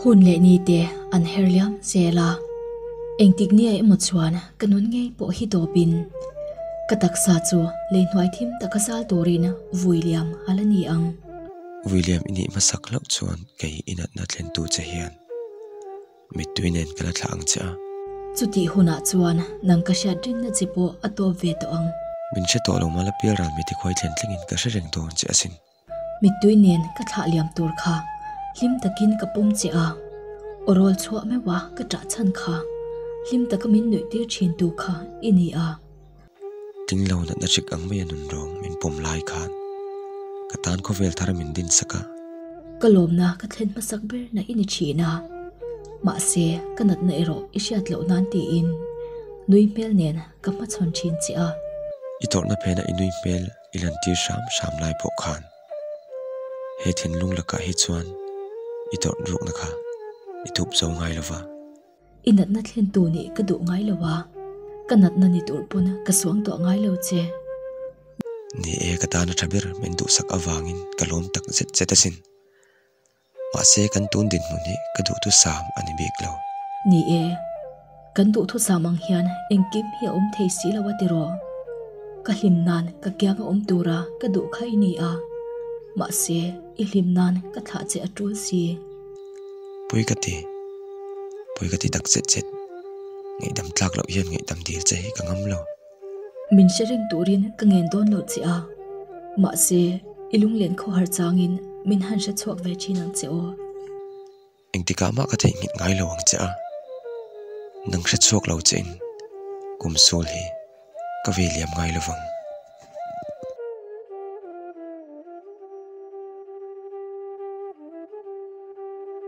Hun leh ni te an her liam zel a, engtik nia emaw chuan ka nun ngei pawh hi dawpin ka taksa chu leihnuai thim taka zal turin Vuiliam a la ni ang. Vuiliam i nih hmasak loh chuan kei inatna tlentu che hian mittui nen ka la thlah ang che a. Chutih hunah chuan nang ka hriat rinna che pawh a tawp ve tawh ang. Min hre tawh lo mala pial ral mi tikhuai thlen tlingin ka hre reng dawn che asin. Mittui nen ka thlah liam tur kha hlim takin ka pawm che a, aw rawl chhuah meuh a ka chah chhan kha hlim taka min nuih tir thin tu kha i ni a. Tling lo natna chik ang mai a nun rawng min pawm lai khan ka tan khawvel thar min din sak a. Ka lawmna ka thlen hmasak ber na i ni thin a, mahse ka natna erawh i hriat loh nan tiin nui hmel nen ka hmachhawn thin che a. I tawrhna phen a i nui hmel. i lan tir hram hram lai pawh khan he thinlung lakah hi chuan i tawrh rukna kha i tup zo ngai lo va. I natna thlen tu nih ka duh ngai lo a, ka natna ni tur pawn ka suang tawh ngai lo che. Ni e, ka tan a tha ber, min duhsak avangin ka lawm tak zet zet asin. Mahse kan tun dinhmun hi ka duhthusam a ni bik lo. Ni e, kan duhthusam ang hian engkim hi a awm thei si lo a ti rawh. Ka hlim nan ka kianga awm tura ka duh kha i ni a, mahse i hlim nan ka thlah che a tul si. Pui ka ti, pui ka ti dak chet chet. Ngaihdam tlak loh hian ngaihdam dil che hi ka ngam lo. Min hre reng turin ka ngen dawn lo che a, mahse i lunglen kho har changin min han hre chhuak ve thin ang che aw. Engtikah mah ka theih nghilh ngai lo ang che a, nang hre chhuak lo chein kum sawl hi ka ve liam ngai lovang.